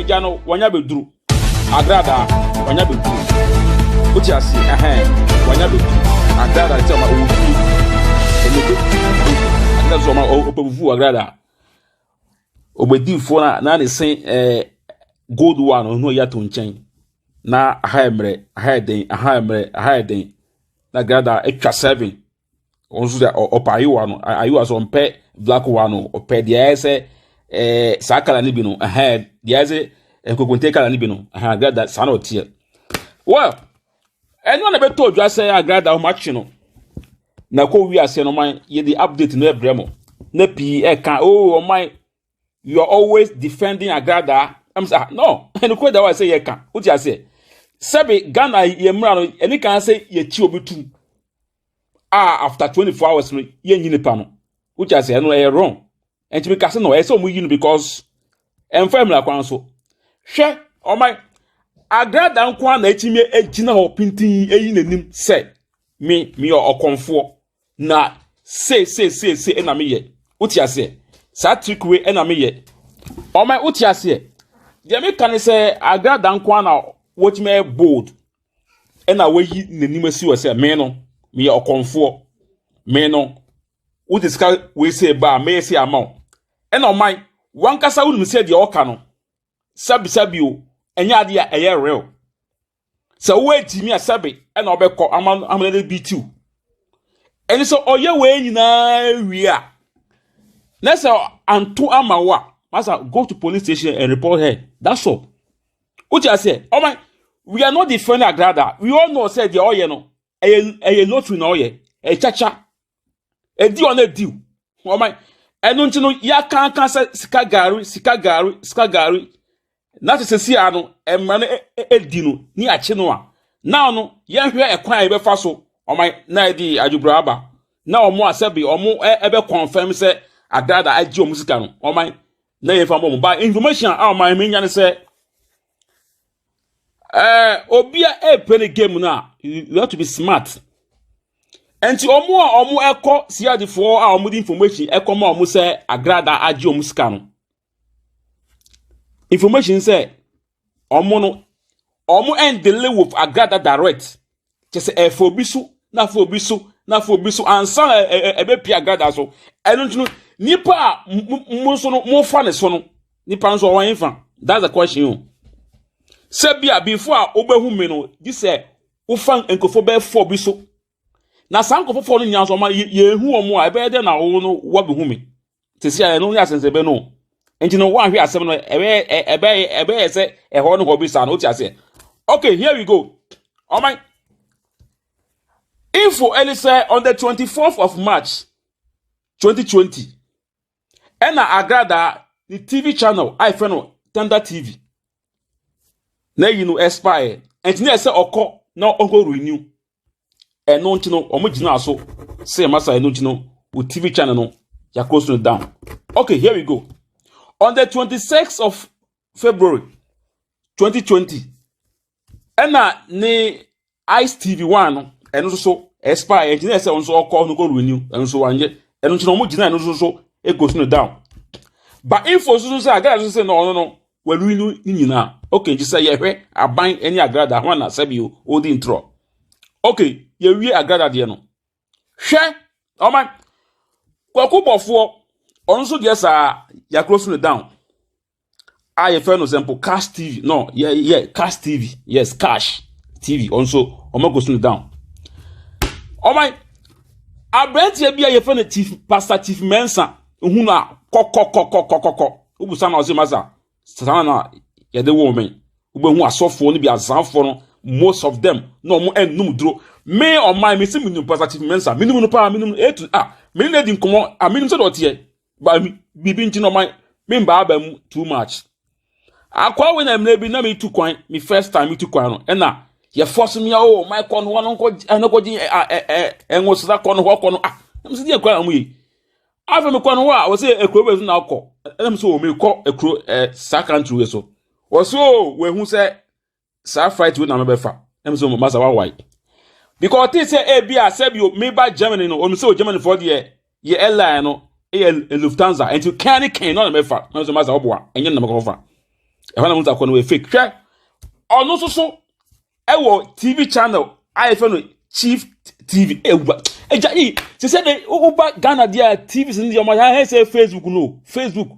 agya no wɔnya bɛduru agradaa wɔnya bɛduru wote ase ɛhɛn wɔnya bɛduru agradaa sɛ ɔma ɔwɔ fie ɛmɛ bɛduru agradaa sɛ ɔma ɔpɛ fufuo agradaa Obedifoɔ no a na ne se ɛɛ eh, gold one ɔno ɔyɛ ato nkyɛn na aha yɛ mmerɛ aha yɛ den aha yɛ mmerɛ aha yɛ den na gada atwa seven wɔn nso sɛ ɔpɛ ayewa no ayewa so ɔmpɛ black one no ɔpɛ deɛ ɛyɛ sɛ ɛɛ eh, saa kala no bi no aha deɛ ɛyɛ sɛ nkokonte kala no bi no aha gada saa na ɔteɛ well ɛno na ɛbɛtɔ odwa sɛ agrada wɔn akye no na ɛkɔ wi aseɛ no man yɛde update no ɛbrɛ mo na pii ɛka oh ɔman you are always defending agrada ɛm sɛ ah no ɛno kura da wa sɛ yɛka wote aseɛ sɛbi ghana yɛ mmira no ɛne kan sɛ yɛkyi obi tum a after twenty four hours no yɛnyi nipa no wote aseɛ ɛno ɛyɛ wrong ɛnti mi kase no ɛsɛ ɔmo yi no because ɛnfa mmira kwan so hwɛ ɔma agrada nko ara na etimi egyina hɔ pintin eyi n'anim sɛ me meyɛ ɔkɔnfoɔ na se se se se ɛna meyɛ wote aseɛ saa trick wei ɛna meyɛ ɔma wote aseɛ deɛ meka ne sɛ agrada nko ara na wɔtumi ɛyɛ bold ɛna wɔyi n'anim asi wɔ sɛ me no meyɛ ɔkɔnfoɔ me no Wode sika wei sei ba a, mɛyɛ sei ama wo. Ɛna ɔman, wankasa wonim sɛ deɛ ɔka no, sɛbesɛbe o, ɛnyɛ adeɛ a ɛyɛ real. Sɛ wowɔ agyimi a sɛbe ɛna ɔbɛkɔ ama no ama no de bi tiw. Ɛne sɛ ɔyɛ wei nyinaa wie a, na sɛ anto ama wo a, masa go to police station and report her. That's all. Wote aseɛ? Ɔman, we are not defending Agrada. We all know sɛ deɛ ɔyɛ no, ɛyɛ ɛyɛ lottery na ɔyɛ ɛyɛ kyakya ɛdi wɔn ɛdi wɔn ɛno nti no yɛakanka sɛ sika gaari sika gaari sika gaari na te sɛsi ano mmara no ɛdi no ne akyi no a na ɔno yɛhwɛ ɛkwan a yɛbɛfa so wɔn na ɛde adwobra aba na wɔn a sɛbi wɔn ɛbɛ kɔnfɛm sɛ adaada agye wɔn sika no wɔn na yɛfa bɔ wɔn ba information a wɔn ɛmɛ nya ne sɛ Eh, obi a ɛrepɛ ne game no a you have to be smart nti wɔn a wɔkɔ siadifoɔ a wɔde information ɛkɔ ma wɔn sɛ agrada agye wɔn sika no information sɛ wɔn no wɔn ɛndele with agrada direct kyɛ sɛ ɛfa obi so na afa obi so na afa obi so ansa na ɛbɛpia agrada so ɛno nti no nipa a mo nso no mofa ne so no nipa nso ɔwɔ nfa that's the question o sɛ bi a before a wobɛhu me no gye sɛ wofa nkurɔfoɔ bɛyɛ fɔ bi so na saa nkurɔfoɔ fɔ no nyinaa nso ɔma yɛhu wɔn a ɛbɛyɛ dɛ na wɔn no wɔbɛhu me sisi a ɛno yɛ asɛnsɛbɛ no nti no wɔahwɛ asɛm no ɛbɛyɛ ɛbɛyɛ ɛbɛyɛ sɛ ɛhɔ no hɔ bi saa no wote aseɛ okay here we go ɔman info ɛne sɛ on the 24th of march 2020 ɛna agrada ne tv channel a yɛfrɛ no thunder tv na yi no expire ɛnti na ɛsɛ ɔkɔ na ɔnkɔ renew ɛno nti no wɔn gyina so sɛ yɛn masa ɛno nti no o tv channel no yakoro so down okay here we go on the twenty sixth of february twenty twenty ɛna ne ice tv one no ɛno nso so expire ɛnti na ɛsɛ wɔn nso ɔkɔ no kɔ renew ɛno nso wanyɛ ɛno nti na wɔn gyina ɛno nso so ɛkɔ so down ba info nso so sɛ agana nso sɛ na ɔno no. wɔanwini no ne nyinaa okay nti sɛ yɛhwɛ aban ne agrada ho na sɛbi odi ntorɔ okay yɛwie agrada deɛ no hwɛ ɔma kwaku bɔfoɔ ɔno nso deɛ saa yɛakoro so no down a yɛfɛ no sɛ mpo cash tv no yɛ yɛ cash tv yes cash tv ɔno nso ɔma kɔ so no down ɔma aberanteɛ bi a yɛfɛ no chief pastor chief mensa ohun a kɔkɔkɔkɔkɔkɔ wobisa no ɔse masa saa na yɛde wo me wobɛhu asɔfoɔ no bi azanfoɔ no most of them na ɔmo ɛnum duro me ɔman me si menim pasa chief mensa menim no paa menim a to a menim na di nkɔmɔ a menim sɛ dɔteɛ ba biribi nti na ɔman me mbaa ba mu too much akwa we na mmerɛ bi na metu kwan me first time metu kwan no ɛna yɛfɔ so mea o ɔman kɔ no hɔ no nkɔ ɛnokɔgye ɛnwosesa kɔ no hɔ kɔ no ah na mesɛ deɛ kwan na ɔmo yɛ afei mekɔ no hɔ a wɔsɛ ekuro bɛ so na akɔ ɛna mesɛ o mekɔ ekuro ɛ eh, saa country wei so wɔsɛ o wɔahu sɛ saa flight wei na mebɛfa ɛna mesɛ o masa wawae because ɔte sɛ ebi a sɛ bi meba germany no wɔn sɛ o germany fɔ deɛ yɛ airline no ɛyɛ lufthansa nti kan ne kan no na mɛfa ɛna mesɛ masa ɔboa ɛnyɛ na mɛkɔ fa ɛhɔ na mo nsa kɔ no wɔ fake hwɛ ɔno nso so ɛwɔ tv channel a yɛfrɛ no chief tv ɛwura ɛgya yi sɛ sɛ de woba ghana deɛ a tv sɛ deɛ ɔmɔya hɛ sɛ facebook no facebook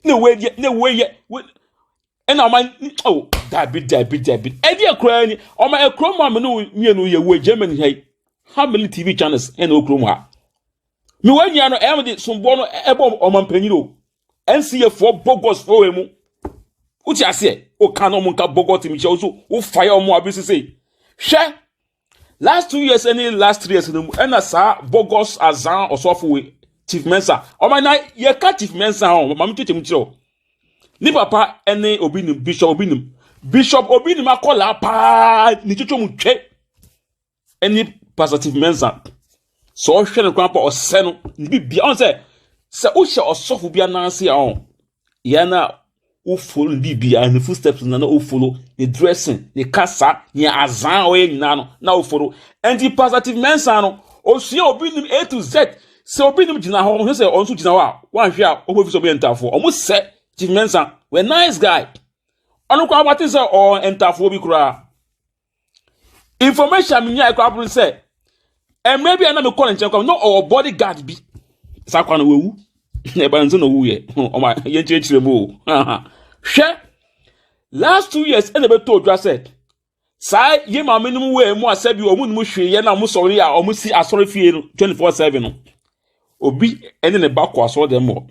na ɛwɔ yɛ na ɛwɔ yɛ ɛna ɔma oh dabi dabi dabi ɛdeɛ koraa ni ɔma ɛkuro mu a me ne mmienu yɛ wɔ germany ha yi how many tv channels ɛna okuro mu ha mewɔ nua no ɛyɛ me de somboɔ no ɛbɔ ɔma mpanyin o NCAfoɔ bogus fo wɔ mu wote aseɛ woka na ɔmo nka bogus mi kyɛ wo so wofaya ɔmo abi sese hwɛ last two years ɛne last three years no mu ɛna saa bogus azan ɔsɔfo wei chief mensa ɔmo na yɛka chief mensa ho maame tete mu kyerɛw ne papa ɛne obi nim bishop obi nim bishop obi nim akɔla paa ne twitwa mu twɛ ɛne pastor steve mensa sɛ ɔhwɛ no koraa pa ɔsɛ no ne bibia ɔn sɛ sɛ wohyɛ ɔsɔfo bi ananse a ɔn yɛn a wofolo ne bibia ne footsteps na na wofolo ne dressing ne kasa ne azan a ɔyɛ nyinaa no na wofolo ɛnti pastor steve mensa no osua obi nim a to z sɛ obi nim gyina hɔ ɔhwɛ sɛ ɔno nso gyina hɔ a wɔanhwɛ a ɔbɔ fi sɛ ɔbɛyɛ ntafoɔ ɔmo sɛ steve mensa wɛ nice guy ɔno koraa wɔate sɛ ɔɔ ntafoɔ bi koraa information a menyae koraa boro sɛ mmerɛ bi a na mekɔ ne nkyɛn kɔ na ɔwɔ body guard bi saa kwa no wawu na ɛba nso na ɔwuiɛ ɔma yɛnkyerɛkyerɛ mu o hwɛ last two years ɛna ɛbɛtɔ odwa sɛ saa yɛ maame no mu wɔ mu asɛ bi ɔmo nom hwee yɛ na ɔmo sɔre a ɔmo si asɔre fie no twenty four seven no obi ɛne ne ba kɔ asɔre dɛm wɔ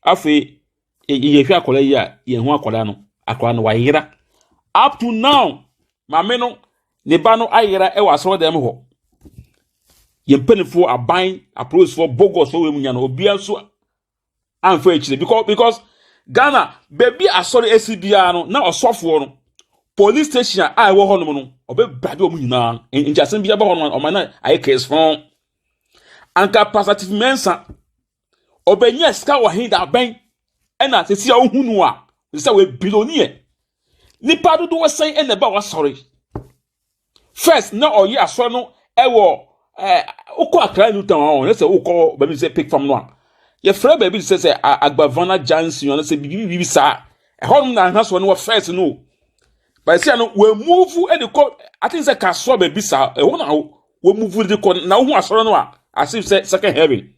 afei yɛhwɛ akwadaa yi a yɛn ho akwadaa no akwadaa no wayera up to now maame no ne ba no ayera wɔ asɔrɔdan mu hɔ yɛn mpanimfoɔ aban apolisifoɔ bogosfoɔ wɔ mu nya no obiara nso amfa akyire because because ghana baabi asɔre asi biara no na ɔsɔfoɔ no police station a ɛwɔ hɔnom no ɔbɛbrade wɔn nyinaa nti asɛm bi aba hɔ no ɔma no ayɛ kɛse fɔn anka pastor tifi mɛnsa Ɔbɛnya sika wɔ he da bɛn? Ɛna sisi a wohu no a, sɛ wɔyɛ biloniɛ. Nipa dodoɔ sɛn ɛna ɛba wasɔre. First, na ɔyɛ asɔre no ɛwɔ ɛɛ wokɔ akra new town a ɔyɛ sɛ wokɔ baabi sɛ pig farm no a. Yɛfrɛ baabi sɛ sɛ Agbavana Junction ɔno sɛ bibi bibi saa. Ɛhɔ nom na ahena sɔre no wɔ first no. Bɛsi ano wɔ move ɛde kɔ I think sɛ kasoa baabi saa. Ɛhɔ na wɔ move de kɔ na wohu asɔre no a as if sɛ second heaven.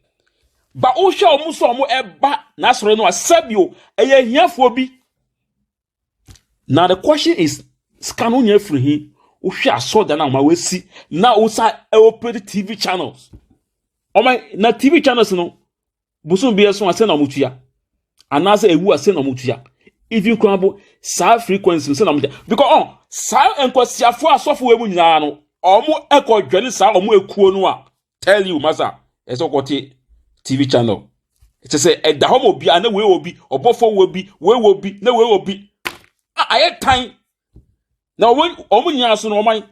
ba wohwɛ wɔn sɛ wɔn ɛba n'asɔre no a sɛbio ɛyɛ ahiafoɔ bi na the question is sika no nyɛ firi hi wohwɛ asɔda no a wɔn awasi na wosa ɛwɔ tv channels wɔn na tv channels no bosom bi ɛso asɛ na wɔn tua anaasɛ ewu asɛ na wɔn tua even kura bo saa frequency no sɛ na wɔn tua because ɔn oh, saa nkɔsiafo asɔfo wɔ mu nyinaa no wɔn ɛkɔ dwɛne saa wɔn ekuo no a. tell you masa ɛsɛ ɔkɔte tv channel ɛkyɛ sɛ ɛda hɔ ma obiara na wei wɔ bi ɔbɔfo wɔ bi wei wɔ bi na wei wɔ bi a ayɛ tan na wɔn wɔn nyinaa so no wɔn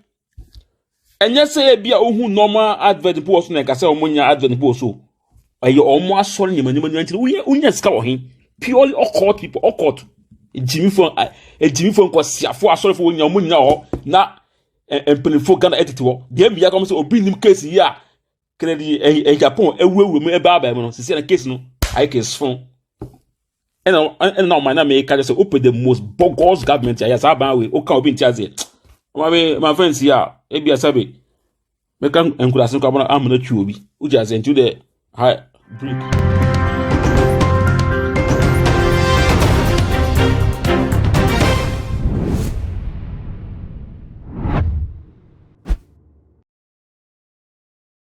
ɛnyɛ sɛ ebi a ohun normal advert mpo wɔ so na ɛka sɛ wɔn nyinaa advert mpo wɔ so ɛyɛ wɔn asɔre nneɛma nneɛma nneɛma nkyɛn woyɛ wonya sika wɔ he purely occult people occult gyimifo gyimifo nkɔsiafo asɔrefo wɔn nyinaa wɔn nyinaa wɔ hɔ na. mpanyinfoɔ ghana tete hɔ deɛ mmea kɔm sɛ obi nim case yi a kennedy ɛyɛ japan awurawura mu ɛbaa abaa mu no sisi na case no ayɛ case fon ɛna ɛna na ɔman na mɛka kyerɛ sɛ open the most bogus government ayɛ saa ban wei oka obi nti aseɛ ɔma mi ma fɛn si a ebi asabe mɛka nkuraase no kɔ abana amena twi obi wogye ase nti wode ha break